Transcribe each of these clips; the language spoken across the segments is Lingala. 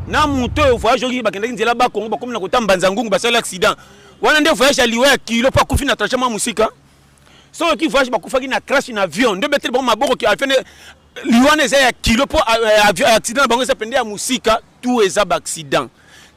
na moto oyo voyage oyo bakendaki nzela bakongo bakomi na kotamba nzangungu basali accident wana nde voyage ya liwa ya kilo mpo akufi na trajet mwa mosika soki oki voyage bakufaki na crash na avion nde obeteli bango maboko ki afende liwana eza ya kilo mpo euh, accident na bango eza mpende ya mosika tout eza baaccident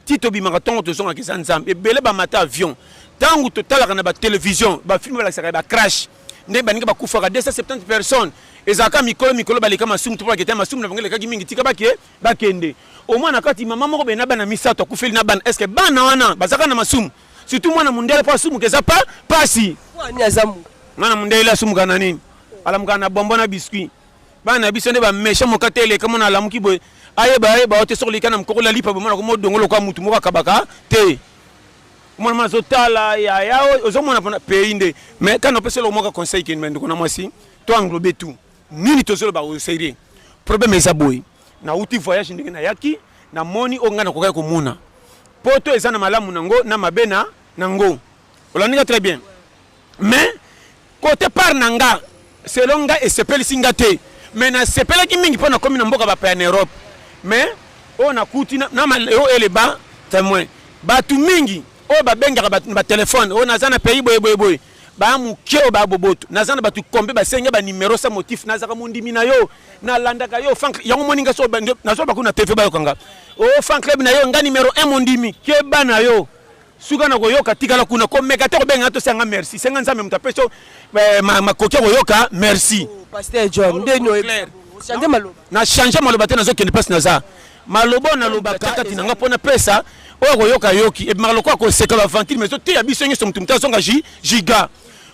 ti tobimaka ntongo tozongaka eza nzambe ebele bamata avion ntango totalaka na batelevision bafilme balakisaka ya bacrash ndenge baninga bakufaka 270 personnes ezalaka mikolo mikolo baleka masumu to balaketa masumu na bango elekaki mingi tika bake bakende omwana kati mama moko bena bana misato akufeli na bana eske bana wana bazalaka na masumu surtout mwana mondele mpo asumuka eza pa pasi mwana mondele asumuka na nini alamukaka na bombo na biscuit bana na biso nde ba méchant mokate eleka mona alamuki boye ayeba ayeba ote soki olika na mokoko la lipa bomona ko modongo lokola mutu moko akabaka te mwana mwana azotala yaya ozomona mpona pays nde mais kana opesi eloko moko conseil keni ndeko na mwasi to englobe tout nini tozoloba oyo sérieux problème eza boye nauti voyage ndenge nayaki namoni oyo ngai nakokaki komona poto eza na malamu nango na mabe na nango olandika très bien Mais cote part na nga selon nga esepelisi nga te mais nasepelaki mingi mpo nakomi na mboka bapaya na Europe mais oyo nakuti na maleo eleba temoin bato mingi oyo babengaka bato na batelefone oyo naza na pays boyeboyeboye baya moke oyo baya boboto naza na bato kombe basenge banimero sa motif nazaka mondimi na yo nalandaka yo fan yango moni nga nazwa bakuna tv bayokanga o oh, fan club na yo nga nimero 1 mondimi keba na yo suka na koyoka tikala kuna komeka te kobenga to senga merci senga nzambe moto apesi eh, makoki ya koyoka merci oh, pasteur john ndeni na change maloba te nazokende mpasi naza maloba oyo nalobaka kati na nga mpo napesa oyo akoyoka yoki ebimaka lokola koseka bavantile mais ezoteya biso nyonso moto moto azonga giga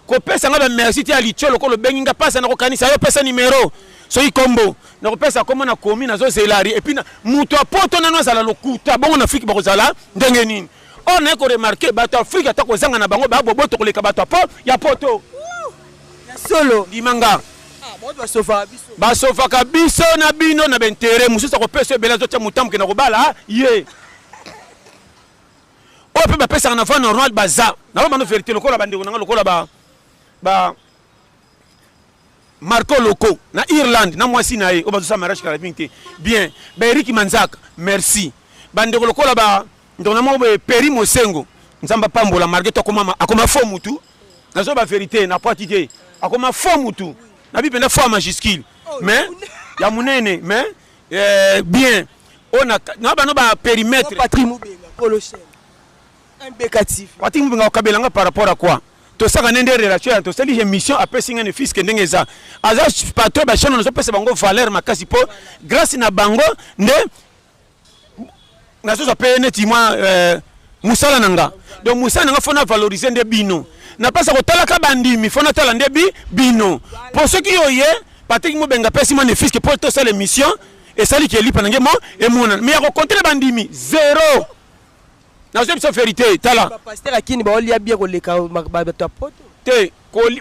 kopesa nga bamerci te ya litio lokola obengi nga mpasa na kokanisa yo pesa nimero soki kombo na kopesa kombo na komi nazo zelari epuis na moto ya poto nano azala lokuta bongo na afrike bakozala ndenge nini or naye koremarke bato ya afrike ata kozanga na bango baya boboto koleka bato ya poto ya solo ndima nga ah, basofaka biso na bino na baintere mosusu akopesa ebele azotya motambo kenda kobala ye oyo mpe bapesaka na va normal baza na bamano verité lokola bandeko na nga lokola ba Marco Loco na Irlande na mwasi na ye oyo bazosa mariage carabin te bien ba Eric Manzaka merci bandeko lokola ba ndeko na moko boye Peri Mosengo nzambe apambola marge to akoma akoma fo mutu nazo ba verite na pwati te akoma fo mutu na bi mpenza fo ya majuscule mais ya monene mais eh, bien oyo na bano ba perimetre Patrick Mpubenga okabela nga par rapport à quoi tosaka nde nde relation ya tosali émission apesi nga ne fiske ndenge eza aza patron ba chaîne nazopesa bango valeur makasi mpo grâce na bango nde nazozwa mpe neti mwa euh, mosala na nga donc mosala na nga fo na valoriser nde bino napesa kotalaka bandimi fo natala nde bi bino mpo soki oye patrik mobenga apesi mwa ne fiske mpo tosala émission esali ke elipa na nge mo emonana me ya kokontele bandimi zero nazo biso verite tala ba pasteur ya kini baolia bia koleka bato ya poto te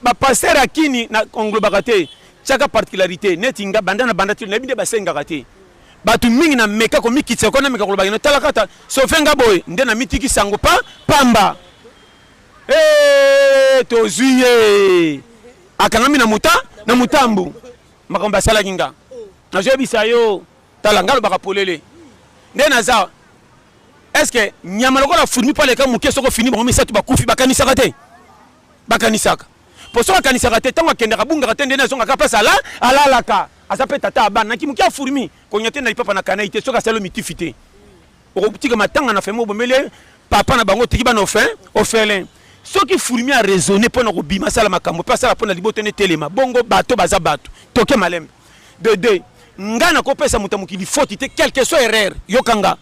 ba pasteur ya kini na englobaka te tiaka particularité neti nga banda na banda te nayebi nde basengaka te bato mingi na meka komikitisa ko nameka kolobaka no tala kata sofe nga boye nde namitiki sango pa pamba hey, eh, tozwi ye akangami na muta na mutambu makambo basalaki nga nazoyebisa yo Tala nga lobaka polele nde naza eske nyama lokola furmi pale ka moke soko fini bango misato bakufi bakanisaka te bakanisaka mpo soki akanisaka te ntango akendaka bungaka te nde nazongaka mpasi ala alalaka aza mpe tata ya bana nakimoki ya furmi konya te na lipapa na kanai te soki asali mitifi te okotika matanga na femi obomeli papa na bango otiki bana ofin ofelin soki furmi araisonne mpo na kobima asala makambo mpe asala mpo na liboto nde telema bongo bato baza bato toke malembe de deux nga nakopesa moto ya mokili foti te quelque soit erreur yokanga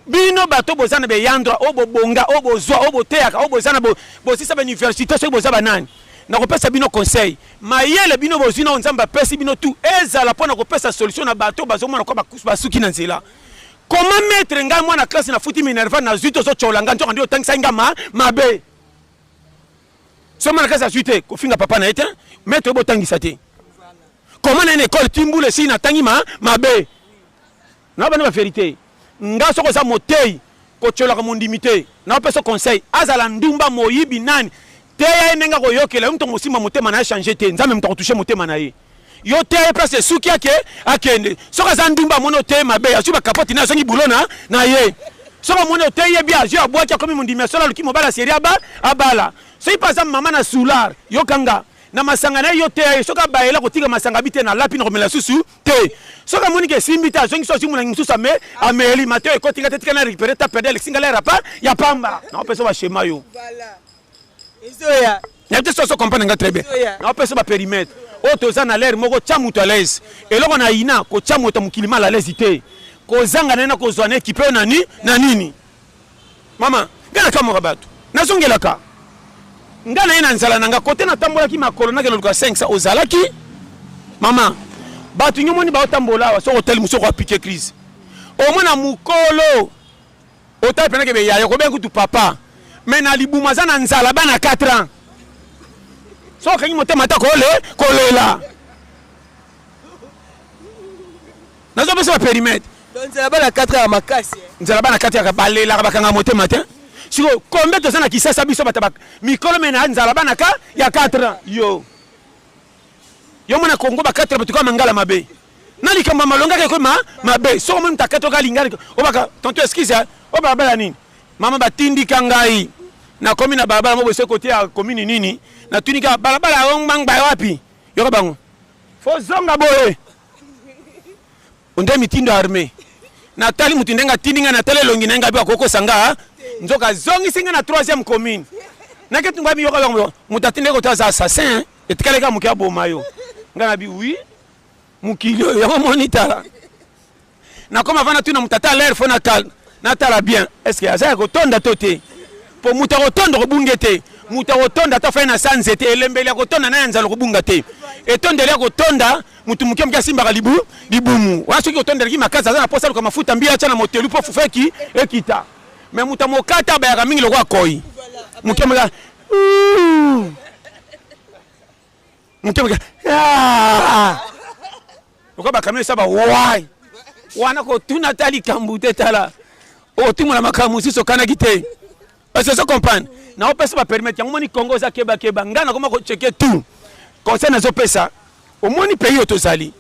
bino bato boza na beyandra oyo bobonga oyo bozwa oyo boteyaka oyo boza na bosisa bauniversité soki boza banani nakopesa bino conseil mayele bino bozwi nao nzambe apesi bino tu ezala mpo na kopesa solution na bato bazomona kwa basuki na nzela koma metre ngai mwana classe nafuti minerva nazwi te ozotyola ngai nzoka nde otangisaki ngai ma mabe so mwana classe azwi te kofinga papa na ye te metre oyo botangisa te Comment na école ti mbula esi na tangi ma mabe. Na bana ba vérité. Nga soko za motei ko tsolaka mondimi te. Na pesa conseil azala ndumba moyibi nani teya ye ndenge akoyokela yo moto akosimba motema na ye change te nzambe moto akotushe motema na ye yo teya ye place esuki ake akende soki aza ndumba amoni oteye mabe azwi bakapoti na azongi bulo na na ye soki amoni oteyi ye bia azwi abwaki akomi mondimi ya solo aluki mobali aseri aba abala soki mpe aza mama na soulard yokanga na masanga na ye yo teya ye soki abayela kotika masanga bi te na lapi na komela susu te soki amoni ke esimbi te azongi so azwi molangi mosusu ame ameli mato ekoti nga te tika na récupéré ta perde alexi ngala rapa ya pamba naopesa bashema yo ezoya na te soso comprendre nga très bien naopesa bapérimètre oyo toza na lere moko tya moto alaise eloko na yina kotya moto ya mokili ma lalaise te kozanga na ye na kozwa na ekipe oyo na nini Mama, nga na kamora bato. Nazongelaka. Nga na ye na nzala na nga. Kote na tambolaki makolo na keloluka 500 ozalaki. Mama, bato nyo moni bao tambola awa soko tali musoko apike crise. Omona mukolo. Otali penake be yaya ko bengu tu papa. Mais na libuma za na nzala bana 4 ans. Soko kangi motema ta kole kolela. nazo pesa ba perimetre donc nzela bana 4 ya makasi eh. nzela bana 4 ya balelaka bakanga motema te siko kombe toza na kisasa biso bata mikolo me na nzala bana ka ya 4 ans yo yo mona kongo ba 4 bato kaka mangala mabe na likambo ya malonga keke ma mabe soko moni moto akati oka lingani obaka tonto excuse eh. o balabala nini mama batindika ngai nakomi na balabala moko ese kote ya komini nini natuni kaka balabala yango ngbangba wapi yoka bango fozonga boye onde mitindo arme natali moto ndenge atindi ngai natali elongi na ngai mpe akokosa nga nzoka azongisi ngai na troisième commune naketi ngai miyoka yango moto atindi koto aza assassin etikali kaka moke aboma yo ngai nabi wi mokili oyo yango moni tala nakoma avanda tuna moto ata lere fo natala bien estce aza ya kotonda to te mpo moto akotonda kobunge te moto akotonda ata fai na sa nzete elembeli ya kotonda na ya nzala kobunga te etondeli ya kotonda motu moke moke asimbaka libu libumu wana soki otondelaki makasi aza na mposa aluka mafuta mbi atya na motelu mpo fufu eki ekita me moto amokata abayaka mingi lokola koi moke moke moke moke lokola bakamio esa ba wai wana kotuna ata likambo te tala okotumola makambo mosusu okanaki te parce ozo comprendre naopesa bapermete yango omoni congo oza kebakeba ngai nakoma kocheke tout conseil nazopesa omoni pays oyo tozali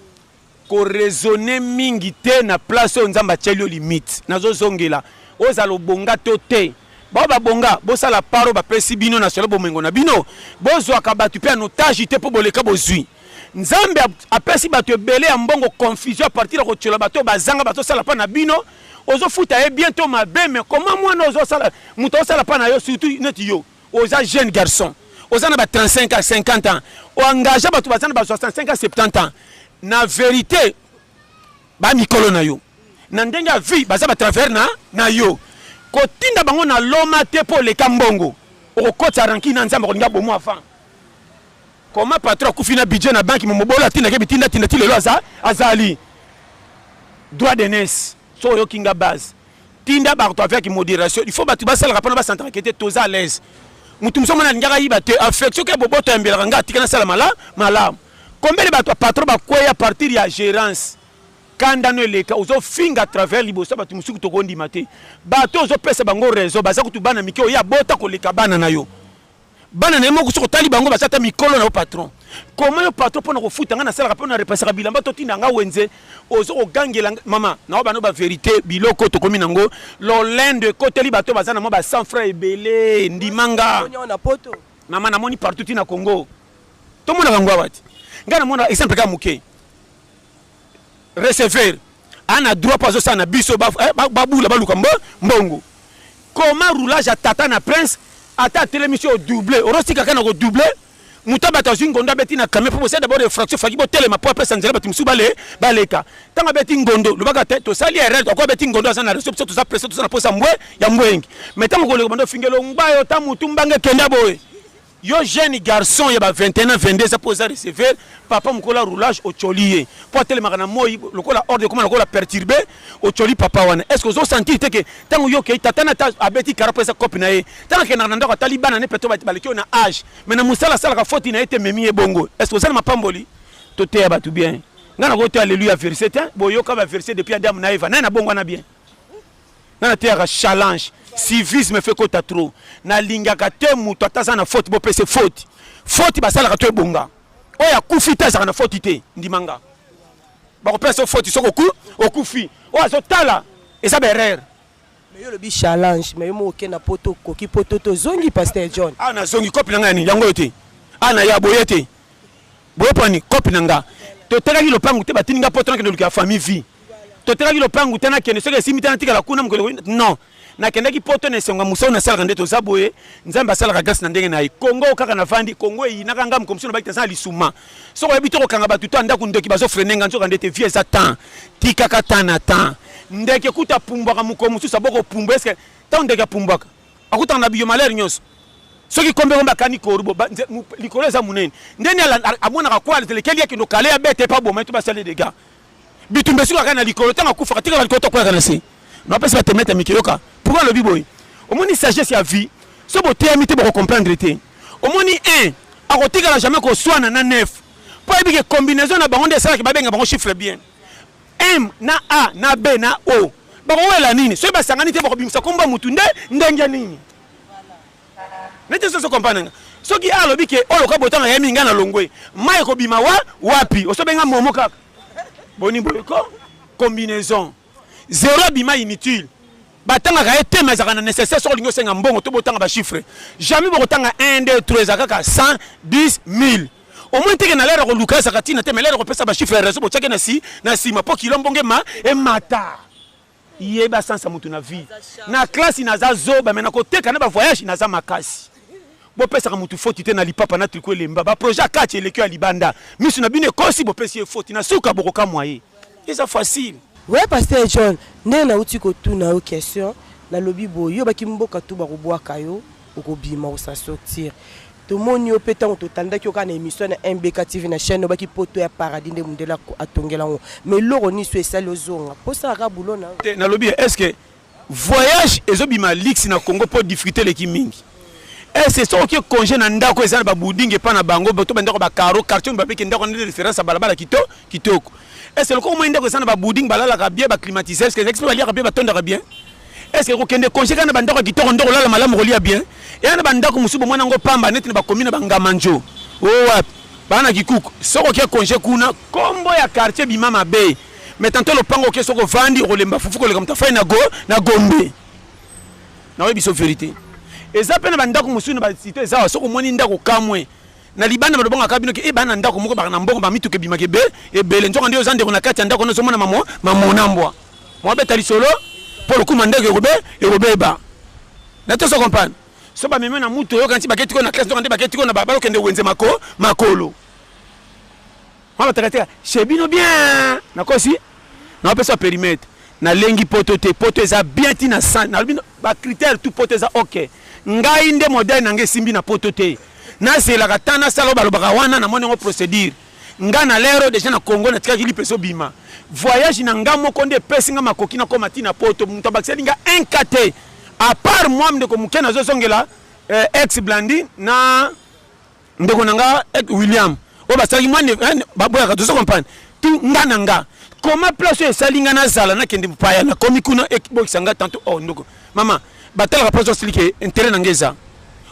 koraisonne mingi te na place oyo nzambe atyeli yo limite nazozongela ozala obonga to te bao babonga bosala paro bapesi bino na solo bomengo na bino bozwaka bato mpe anotage te mpo boleka bozwi nzambe apesi bato ebele ya mbongo confusion apartir ya kotyola bato oyo bazanga bazosala mpa na bino ozofuta ye bien to mabe me koma mwana ozosala moto osala mpa na yo surtout neti yo oza jeune garçon oza na ba 35 ans 50 ans oengage bato baza na ba 65 ans 70 ans na verité bamikolo na yo na ndenge ya vie baza batravers na, na yo kotinda bango na loma te mpo oleka mbongo okokotisa ranki na nzambe akolinga bomo avant Comment patron akufi na budget na banque momobolo atindaki bitinda tinda ti lelo aza azali droit de naissance so oyoki nga base tinda bato avec modération il faut bato basalaka mpona basantrake te toza à l'aise motu mosusu mwana alingaka yiba te affection ke boboto ayembelaka nga atika nasala malamu malamu kombele bato ya patron bakweya partir ya gérance kanda no eleka ozofinga travers liboso ya bato mosusu tokondima te bato ozopesa bango raison baza kutu bana mike oyo abota koleka bana na yo bana na ye moko soki otali bango baza ata mikolo na yo patron koma yo patron mpo na kofuta ngai nasalaka mpo na repasaka bilamba totinda ngai wenze ozo kogangela mama na yo bano baverité biloko tokomi nango lolendo ekoteli bato baza na mwa ba cent franc ebele ndima nga mama namoni partout ti na congo tomonaka yango awa te ngai namona exemple kaka moke receveur ana droit mpo azosala na biso eh, babula baluka mbongo koma roulage ya tata na prince ata atelemi so odouble orosika kaka na kodouble moto bato azwi ngondo abeti na camion mpo bosala dabord refraction faki botelema mpo apesa nzela bato mosusu bale baleka ntango abeti ngondo lobaka te tosali erreur ako abeti ngondo aza na reso biso toza presse toza na mposa mbwe ya mbwengi mai ntango koleka bando ofingelo ngba yo ta motu mbange kenda boye Yo jeune garçon ya ba 21 ans 22 ans po oza receveur papa mukolo ya roulage ocoli ye po atelemaka na moi lokola ordre ekoma lokola perturbe ocoli papa wana est ce que ozo sentir te ke tango yo okei tata na ta abeti kara po eza cope na ye tango akendaka na ndako atali bana ne peto baleki oyo na age mais na mosala asalaka foti na ye te ememi ye bongo est ce que oza na mapamboli toteya bato bien ngai nakoki te alleluya verse te boyoka ba verse depuis adamu na eva naye na bongo wana bien nga nateyaka challenge civisme fe kota trop nalingaka te moto ata aza na faute bopese faute faute basalaka to ebonga oyo akufi te azalaka na faute te ndima nga bakopesa so faute soki oku okufi oyo azotala eza baerreur mais yo lobi challenge mais yo moko okenda poto okoki poto tozongi pasteur john awa ah, nazongi kopi na ngai ya nini yango oyo te awa ah, na ya boye te boyeponi kopi na nga totekaki lopangu te batindi nga poto nakende luka famille vie totekaki lopangu te nakende soki esimbi te natikala kuna mokolo non nakendaki poto na esengo ya mosala nasalaka nde toza boye nzambe asalaka grâce na ndenge na ye kongo kaka navandi kongo eyinaka nga mokomosi nabaki te aza na lisuma soki oyebi te kokanga bato to ndako ndoki bazofrene nga nzoka nde te vie eza temps tikaka temps na temps ndeke kuta apumbwaka mokolo mosusu abokopumbwa eske ntango ndeke apumbwaka akutana na biyo malheur nyonso soki kombe kombe akani korubo likolo eza monene ndeni amonaka kwa atelekeli akende okale ya bete epa boma etu basali dega bitumba esiko akani na likolo ntango akufaka tikaka likolo tokweyaka na se napesi batemete mike yoka pourkui alobi boye omoni sagesse ya vie so boteyami te bokocomprendre te omoni un akotikala jamais koswana na nef mpo ayebike combinaison na bango nde esalaki babenga bango chiffre bien M na A na B na O bakowela nini soki basangani te bakobimisa kombo ya motu nde ndenge nini neti soso kompana nga soki a alobi ke oyo loka botanga ya mingi nga na longwe mai ekobima wa wapi osobenga momo kaka boni boyeko combinaison zero abima inutile batangaka ye te mazaka na nécessaire soki olingi osenga mbongo to botanga bachiffre jamais bokotanga 1 2 3 eza kaka 100 10 1000 Au moins teke na lera ko luka ezaka tina te mais lera ko pesa ba chiffre ya raison bochake na si na sima po kilo mbonge ma e mata. Yeba sansa mutu na vie. Na classe na za zoba mais na ko teka na ba voyage na za makasi. bopesaka motu foti te na lipapa na triko elemba baprojet akati elekio ya libanda miso na bino ekosi bopesi ye foti na suka bokokamwa ye eza facile we paster john ndenge nauti kotuna yo question nalobi boye yo baki mboka tu bakobwaka yo okobima osa sortir tomoni yo mpe ntango totandaki yo kaka na émission na mbk tv na chaîne obaki poto ya paradis nde mondele atongela yango mais eloko niso esali ozonga mpo osalaka bulo na te nalobi est ce que voyage ezobima lix na congo mpo difficulté eleki mingi ese eh, soki congé na ndako eza na babouding epai na bango to bandako bacaro quartier oyo babiki ndako nde référence ya balabala kito kitoko ese eh, lokola omoi ndako eza na babouding balalaka bien baclimatiseur ske ezakisi mpe baliaka bien batondaka bien est ce que kokende congé kaka na bandako ya kitoko nde kolala malamu kolia bien eya na bandako mosusu bomona yango pamba neti na bakomi na bangamanjo o oh, wapi baa na kikuku soki oke congé kuna kombo ya quartier bima mabe mais tanto lopango oke soki ovandi okolemba fufu koleka moto afai na go na gombe naoyebi biso verité eza mpe na bandako mosusu na basite eza wa soki omoni ndako kamwe na libanda maloba ngaka bino ke ebana eh, ndako moko baka na mbongo ba mituka ebimaka ebe ebele nzoka nde oza ndeko na kati ya ndako nyonso omona mamo mamona mbwa mwabeta lisolo mpo lokuma ndeko ekobe ekobeba na toso comprendre so bameme na mutu oyoka nti baketiko na classe nzoka nde baketiko na balokende wenze mako makolo Mama takatika chez bino bien nakosi napesa perimetre nalengi poto te poto eza bien ti na san nalobi bacritère tout poto eza ok ngai nde modèle na ngai esimbi na poto te nazelaka ta nasala balobaka wana namoni yango procédure ngai na lero deja na congo natikaki lipa ezobima voyage na ngai moko nde epesi ngai makoki nakoma ti na poto moto abakiseli ngai un ka te apart moi ndeko moke nazozongela eh, ex blandi na ndeko na nga eh, william oyo basalaki mwa eh, baboyaka tozo comprendre tu nga na nga koma place oyo esali nga nazala nakende mpaya nakomi kuna ekibokisa nga tanto o oh, ndoko mama batalaka place osili ke intere na nga eza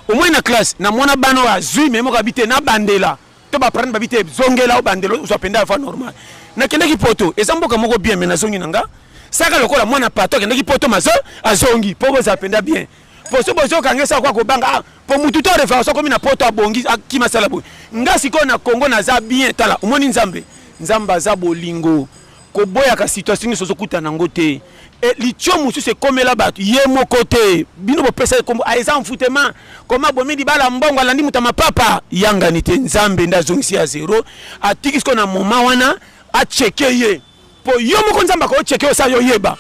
omoi na classe na mwana bana oyo azwi me moko abi te nabandela to baprane babi te zongela obandela ozwa mpenza afa normal nakendaki poto eza mboka moko bien me nazongi na nga saka lokola mwana pato akendaki poto mazo azongi mpo boza mpenza bien po so bozoka nge sa kwa kobanga ah, po mutu to reference akomi na poto abongi akima sala boye nga sikoyo na congo naza bien tala omoni nzambe nzambe aza bolingo koboyaka situation nyonso ozokutana yango te e, litio mosusu ekomela bato ye moko te bino bopesa ekombo ah, eza mfutema koma bomi libala mbongo alandi moto ya mapapa yangani te nzambe nde azongisi ya zero atiki sikoyo na moma wana acheke ye po yo moko nzambe ako cheke osa yo yeba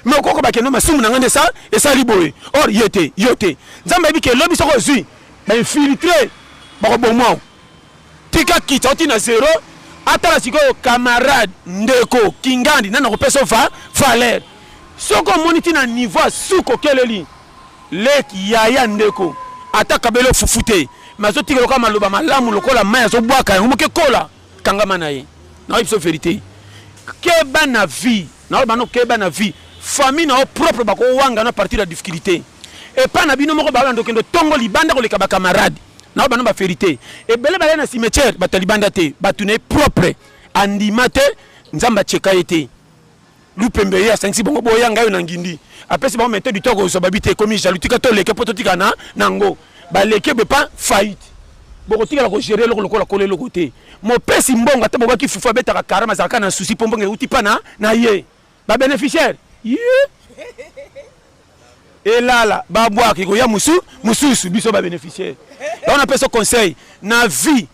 me okoko bakendo masumu na ngai nde esa esali boye or ye te yo te nzambe ayebi ke lobi soko ozwi bainfiltre bakobomwao tika kita oti na zero atala sikoyo camarade ndeko kingandi nani akopesa ova valeur soko omoni ti na niveau ya suka okeleli leki yaya ndeko ata kabelo fufu te me azotikela kaka maloba malamu lokola mai azobwaka yango moke kola kangama na ye na biso verite keba na vie na yo bano keba na vie famille na yo propre bakowanga na partir ya difficulté epa na bino moko balanda okende tongo libanda koleka bacamarade na yo bano baverite ebele balai na cimetière bato ya libanda te bato na ye propre andima te nzambe atyeka ye te lupembe ye asangisi bango boya ngai na ngindi apesi bango mete duto akozwa babi te ekomi jaloux tika toleke mpo totika na nango baleki ebe pa faillite bokotikala kogere eloko lokola kola eloko te mopesi mbongo ata bobaki fufu abetaka karama azalaka na susi mpo mbongo euti mpa na, na ye babeneficiaire ye elala babwaka ekoya mosu mosusu biso babeneficiaire yango napesa conseil na vie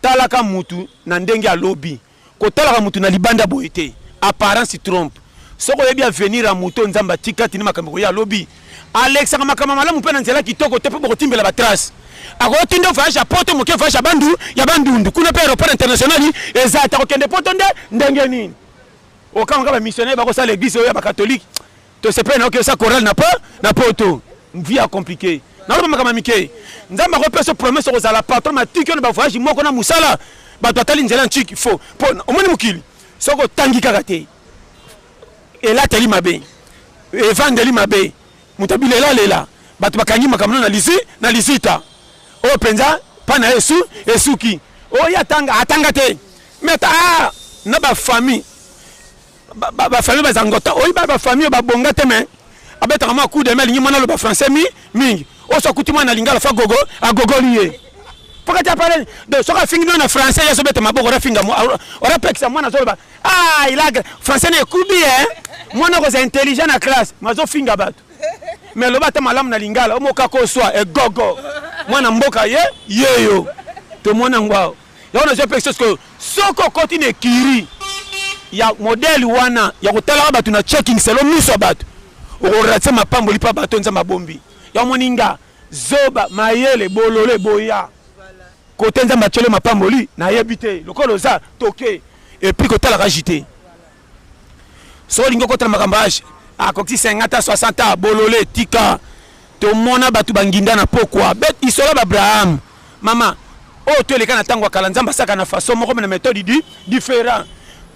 talaka mutu na ndenge alobi Kotalaka moto na libanda boye te, apparence trompe. Soki oyebi avenir ya moto, Nzambe atika tini makambo koya lobi. Alekisaka makambo malamu mpe na nzela kitoko te mpo bokotimbela ba trace. Akoki tinde voyage ya poto moke voyage ya bandu ya bandundu kuna mpe aéroport international eza te akokende poto nde ndenge nini? Okanga ba missionnaire bakosala eglise oyo ya ba catholique Tosepeli na okesa chorale na po na poto. Vie a compliqué. Naloba makama mike. Nzambe akopesa promesse kozala patron ma tiki na ba voyage moko na musala. Bato atali nzela ntiki fo. Po omoni mokili. Soko tangi kaka te. Elateli mabe. Evandeli mabe. Moto abilela lela. Bato bakangi makambo na lisi na lisita. Oyo penza pana esu esuki. Oyo atanga atanga te. Mais ah na ba famille ba famille ba zangota oyi ba ba famille ba bonga te mais abetaka ma coup de main lingi mwana loba français mi mingi oso akuti mwana lingala fa gogo agogoli ye pokati apale donc soki afingi bino na français ye azobeta maboko orafinga orapekisa mwana azoloba ah il a français na ekubi e mwana okozala intelligent na classe ma azofinga bato mais loba ata malamu na lingala omokaka oswa egogo mwana mboka ye yeyo tomona yango awa yango nazwa mpe sosi koyo soki okoti na ekiri ya modele wana ya kotalaka bato na checking selo miso ya bato okorate mapamboli mpa bato nzambe abombi yango moni nga zoba mayele bolole boya kote nzambe atyeli mapamboli nayebi te lokola oza toke epuis kotalaka jite soki olingi okota na makambo age akoki 50 ta 60 ta bolole tika tomona bato banginda na pokwa bet isola baabraham mama oyo oh, toleka na ntango ya kala nzambe asaka na façon moko na méthode di différent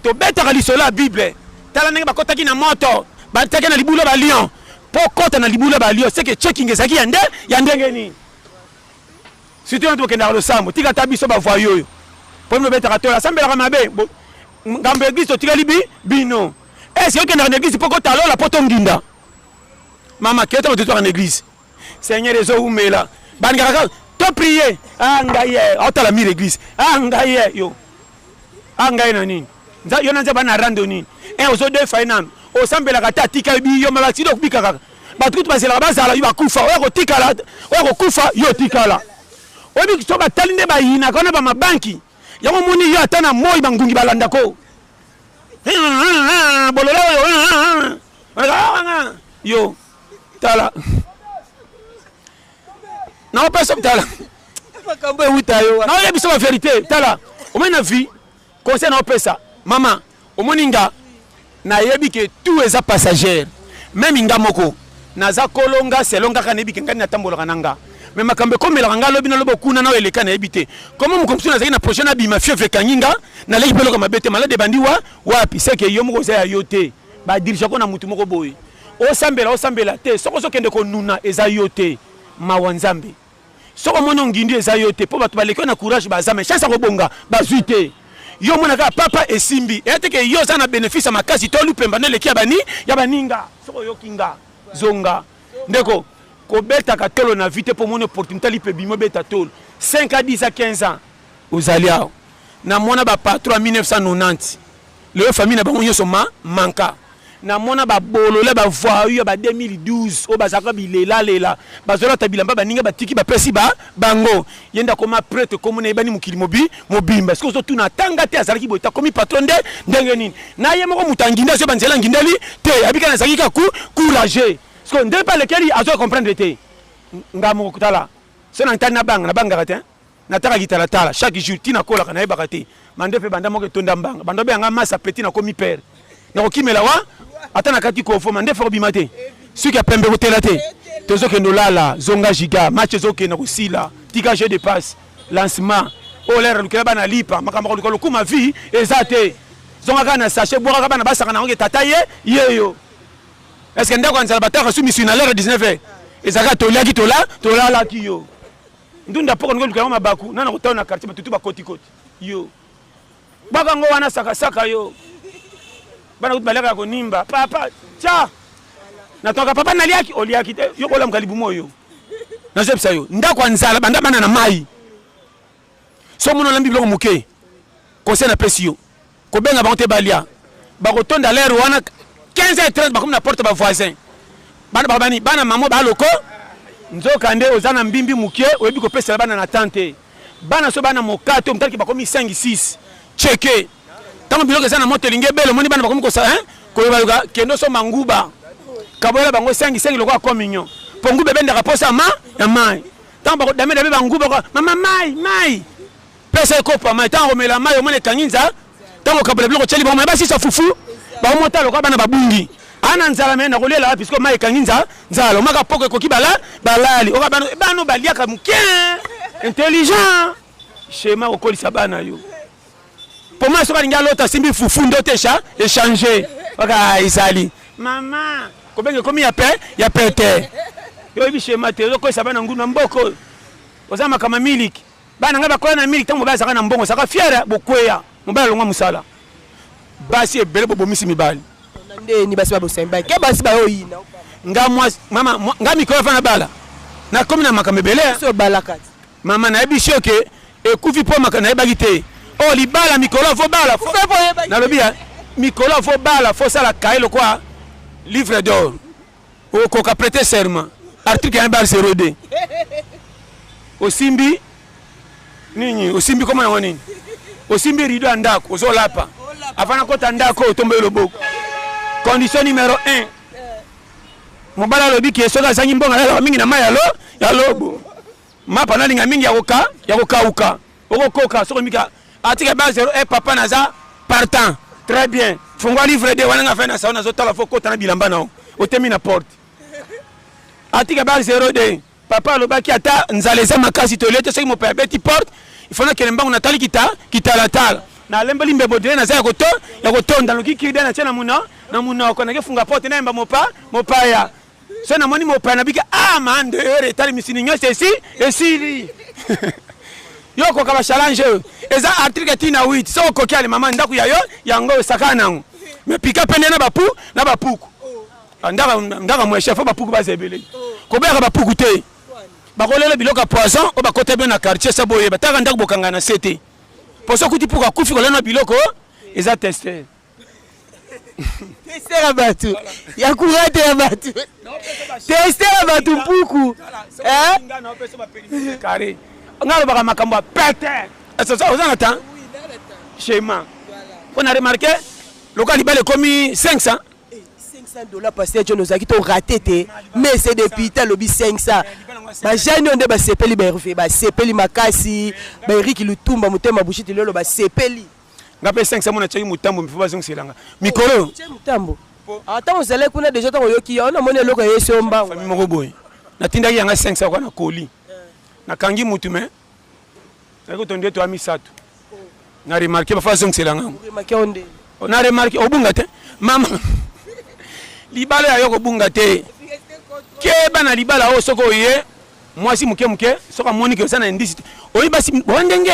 tobetaka lisolo ya bible tala ndenge bakotaki na moto bataki na libula balion mpo kota na libula balion seke checking ezalaki ya nde ya ndenge nini Surtout yo tokendaka losambo, tika ata biso ba voyous oyo. Mpo bino betaka tola, asambelaka mabe. Ngambo ya eglise totikali bi bino. Eh, si okendaka na eglise mpo kotalola mpo tonginda. Mama keta moto etwaka na eglise. Seigneur ezo umela. Bandaka kaka to prier. Ah ngai eh, otala mire eglise. Ah ngai eh, yo. a ah, ngai na nini yo na nzambe na rando nini e eh, ozo defa ye nanu osambelaka te atika yo biyo ma baksida okobika kaka bato kutu bazelaka bazala yo bakufa oya kotikala oya kokufa yo otikala oyebi so batali nde bayinaka wana bamabanki yango omoni yo ata na moi bangungi balandako bolola oyo yo tala naopesa tala makambo ewuta yo naoyebisa ba verité tala omoni na vie conseil naopesa mama omoni nga nayebi ke tout eza passagère meme nga moko naza kolo nga selo ngaka nayebi ke ngani natambolaka na nga me makambo ekomelaka nga lobi nalobi okuna nao eleka nayebi te komo mokomi mosusu nazalaki na projet nabima fievre ekangi nga naleki mpe eloko mabe te malade ebandi wa wapi seke yo moko oza ya yo te ba dirige ko na mutu moko boye osambela osambela te soko ozokende konuna eza yo te mawa nzambe soko omoni ongindi eza yo te mpo bato baleki yo na courage baza me chance ya kobonga bazwi te yo omona kaka papa esimbi eya te ke yo oza na bénéfice ya makasi to lupemba na eleki ya bani ya baninga soko oyoki nga zonga ndeko kobetaka tolo na vie te mpo omoni opportunité lipe bimo beta tolo 5 a 10 a 15 ans Ozali awa na mona ba patron ya 1990 lelo famille na bango nyonso ma manka na mona ba bolole ba voyous ya ba 2012 oyo bazalaka bilela lela bazolata bilamba baninga batiki bapesi ba bango ye nde akoma prete komona yebani mokili mobi mobimba soki ozotuna atanga te azalaki boye takomi patron nde ndenge nini na ye moko moto anginde azoyeba nzela angindeli te abika nazalaki ka ku courage siko nde mpe alekeli azoya comprendre te ngamokotala so na ntani nabanga nabangaka te nataka kitalatala chaque jour ti nakolaka nayebaka te bande mpe banda moko etonda mbanga bando beyanga masa peti nakomi pere nakokimela wa ata nakati kofo mandefu akobima te soki ya pembe kotela te tozokende olala zonga giga match ezokende kosila tika jeu de passe lancement oyo lere alukela bana lipa makambo akoluka lokuma vie eza te zonga kaka na sachet bwakaka bana basaka na yango ke tata ye yeyo estce ndako ya nzala bataka su misui na lere 19 ezalaka toliaki tola tolalaki yo ndunda poko ndiko lukango mabaku nana kotao na quartier batutu bakoti koti yo baka ngo wana saka saka yo bana kuti balaka ya konimba papa tya natonaka papa naliaki oliaki te yo kolamuka libumu oyo nazoyebisa yo ndako ya nzala banda bana na mai so mona olambi biloko moke conseil napesi yo Kobenga bango te balia. Bakotonda l'heure wana 15h30 bakomi na porte ba voisins. Bana babani bana maman ba loko nzoka nde oza na mbimbi mukie oyebi kopesela bana na temps te. Bana so bana mokato mtaliki bakomi 5 6 cheke. Tango biloko eza na moto elingi ebele omoni bana bakomi kosa hein koloba loka kendo so manguba. Kabola bango 5 5 lokola communion. Pongu bebe ndaka posa ma ya mai. Tango bakodame dame banguba mama mai mai pesa ye kopo ya mai ntango akomela mai omona ekangi nza ntango okabola biloko otyeli bango mai basisa fufu baomota lokola bana babungi ana nzala me nakolela wapi sikoyo mai ekangi nza nzala omaka poko ekoki bala balali oka bano bano baliaka moke intelligent shema kokolisa bana yo mpo mai soki alingi alota asimbi fufu nde otesha echange oka ezali mama kobenga ekomi ya pe ya pete yo oyebi shema te ozokolisa bana nguna mboko oza makama miliki Bana ngai bakola na mingi ntango mobali azalaka na mbongo azalaka fiere bokweya mobali alongwa mosala basi ebele bobomisi mibali ndeni basi babosembaki ke basi bayoyina nga mwasi mama nga mikolo afana bala nakomi na makambo ebele mama nayebisi yo ke ekufi mpo maka nayebaki te o oh, libala mikolo fo bala nalobi ya mikolo fo bala fo sala kaye lokwa livre d'or okoka prete serment article ya bar 02 osimbi nini osimbi koma yango nini osimbi rido ya ndako ozolapa avana kota ndako otombeli loboko condition numero 1 mobali alobi ke soki azangi mbongo alalaka mingi na mai ya lobo mapa nalinga mingi ya kokauka okokoka soko mika atika ba zero e papa naza partant très bien fungwa livre de wana nga fai na sao nazotala fo kota na bilamba nao otemi na porte atika ba zero de papa alobaki ata nzala eza makasi tolie te soki mope abeti porte ifona kele mbango natali kita kitalatala nalembeli mbembo dele naza ya koto ya kotonda noki kirida na tie na muna na munoko nakefunga porte nayemba mopa mopaya so namoni mopaya na bika ah man de heure etali misini nyonso esi esili yo okoka bachallange oyo eza article ti na 8 so okoki ale mama ndako ya yo yango osakana nango me pika pende na bapu na bapuku ah, ndaka mwe chef bapuku baza ebele koboyaka bapuku te bakolela biloko ya poison oyo bakota bino na quartier sa boyeba taka ndako bokanga na se te poso okuti puku akufi kolana biloko eza teste testela bato ya kurate ya bato testela bato mpuku nga alobaka makambo ya pete oza na temps chema mpo na remarke lokola libala ekomi 500 500 dollars pasteur john ozalaki to rate te mais c'est depuis ta lobi 500 bajani oyo nde basepeli baherve basepeli makasi baeriki lutumba motema bushiti lelo basepeli nga mpe esangisa mona tiaki motambo mifo bazongisela nga mikolo motambo ntango ozalaki kuna deja ntango oyoki yango namoni eloko ya yesu yo mbango fami moko boye natindaki yanga 500 kwa na koli nakangi motu me nayaki kotondi eto ya misato na remarke bafa azongisela ngango oh, na remarke obunga te mama libala ya yo kobunga te keba na libala oyo soki oye mwasi moke moke soki amoni ke oza na indisi te oyi basi boa ndenge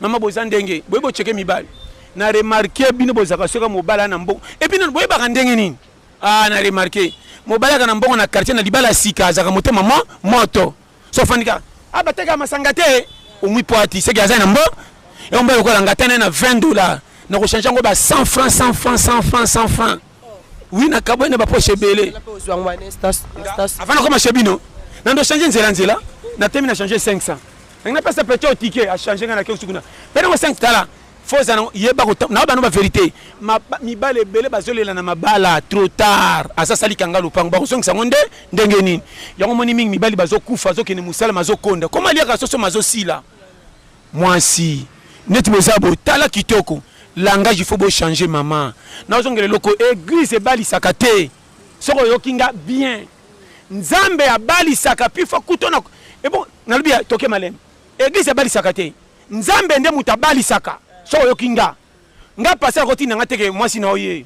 Maman boza ndenge boye bo cheke mibali. Na remarquer bino bozaka soka mobala na mbongo. Et puis boye baka ndenge nini? Ah na remarquer mobala kana mbongo na quartier na libala sika azaka motema mo moto. So fanika abateka ah, masanga te omwi poati seki aza na mbo. Et on ba lokola ngatana na 20 dollars. Na ko changer ngo ba 100 francs 100 francs 100 francs 100 francs. Oui, na kabwe na ba poche ebele. Avant na koma chez bino. Na ndo changer nzela nzela. Na temi na changer 500. Nanga pesa petit au ticket a changer na kiosk kuna. Pena ko 5 tala. Faut ça yeba ko na ba no ba vérité. Ma mibale ebele bazolela na mabala trop tard. Asa sali kanga lupango ba kozongisa ngo nde ndenge nini. Yango moni mingi mibali bazokufa bazokende musala mazokonda. Koma liaka soso mazosila. Muasi neti boza boye tala kitoko langage il faut bo changer maman nazongela eloko eglise ebalisaka te soki oyoki nga bien nzambe abalisaka pifa kuto na ebo nalobi toke malem eglise ebalisaka te nzambe nde moto abalisaka soki oyoki nga nga pasteur akotinda nga teke mwasi na oye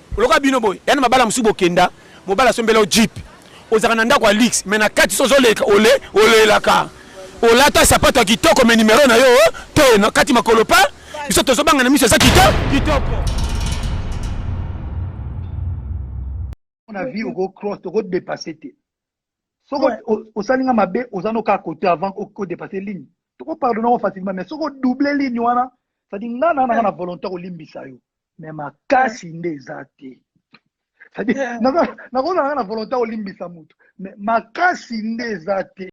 Lokola bino boye, yana mabala mosusu bokenda, mobali asombela yo jeep, ozalaka na ndako ya luxe, mais na kati so ozoleka ole olelaka, olata sapato ya kitoko mais numero na yo oh, te na kati makolo pa, biso tozobanga na miso eza kito kitoko. na vie oko cross oko dépasser te soki Ouais. o- osali nga mabe oza no kaka kote avant o- ko dépasser ligne toko pardonne yango facilement mais soki odouble ligne wana cestadi nga na nanga na volonté ya kolimbisa yo mais makasi nde eza te cestadi nakozala nga na volonté ya kolimbisa motu mais makasi nde eza te